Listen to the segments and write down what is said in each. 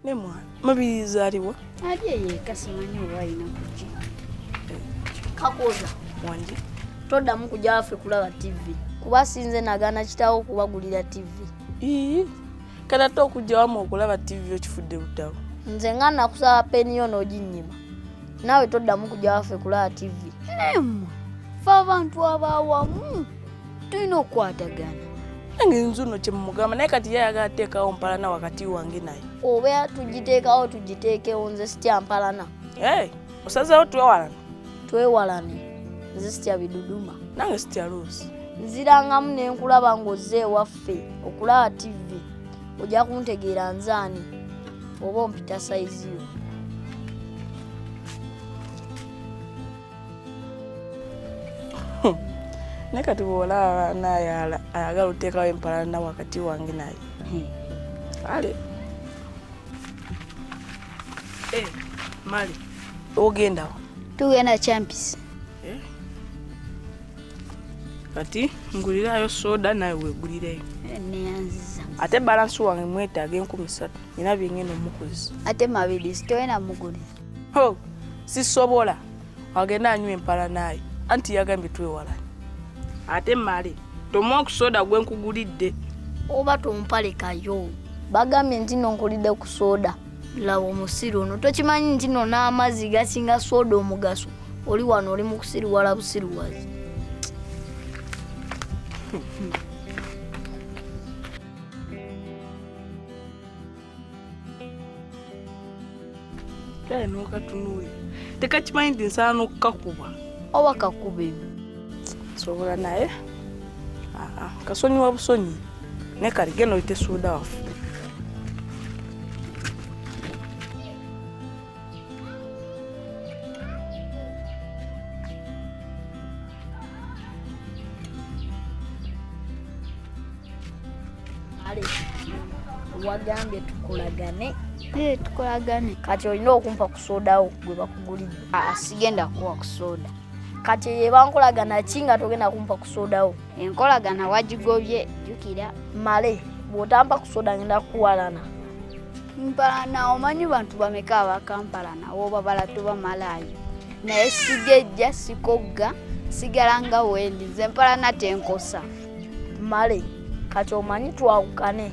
Ne mwana mabirizi aliwa? Alye yeka simanyi oba alina kuki. Kakoza wangi toddamu kujja waffe kulaba ttivi kuba sinze nagaana kitaawo okubagulira ttivi. Ii kati ate okujja wama okulaba ttivi okifudde butawo. Nze nga nakusaba peni yo n'oginnyima naawe toddamu kujja waffe kulaba ttivi. Naye mmwe ffe abantu abaawamu. tulina okukwatagana nange nze ono kyemumugamba naye kati ye ayagala teekawo mpalana wakati wange naye oba tugiteekawo tugiteekewo nze sitya mpalana osazewo twewalane twewalane nze sitya biduduma nange sitya luusi nzirangamu ne nkulaba ng'ozze ewaffe okulaba tivi ojja kuntegeera nzaani oba ompita sayizi yo naye kati bwolaba naye ayagala oteekawo empalana wakati wange naye hmm. kale eh, mali ogendawo tugenda champis eh? kati ngulirayo soda naye wegulireyo eh, neyanziza ate balansi wange mwetaaga enkumi satu ina byengenda omukuzi ate mabirizi toyena mugulira ho sisobola agenda anywa empala naayo anti yagambye twewala ate male tomwa okusoda gwe nkugulidde oba tompalekayo bagambye nti no nkulidde ku soda laba omusiru ono tokimanyi nti no n'amazzi gasinga soda omugaso oli wano oli mukusiriwala busiriwazi kale n'okatunuulira tekakimanyi nti nsala n'okukakuba oba kakuba ebyo sobola naye kasonyiwa busonyi naye kali genda oyite suuda waffe wagambye tukolagane ee tukolagane kati olina okumpa kusodawo gwe bakugulidde ah, sigenda kuwa kusoda kati ebankolagana ki nga togenda kumpa kusodawo enkolagana wagigobye jukira male bwotampa kusoda ngenda kuwalana mpalana omanyi bantu bameka abakampalana wobabala tuba malayo naye sigejja sikogga sigala nga wendi nze mpalana tenkosa male kati omanyi twawukane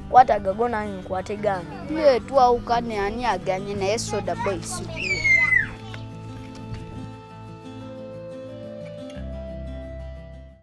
kwataga go nange nkwate gange ye twawukane ani aganye naye soda boy sikuwa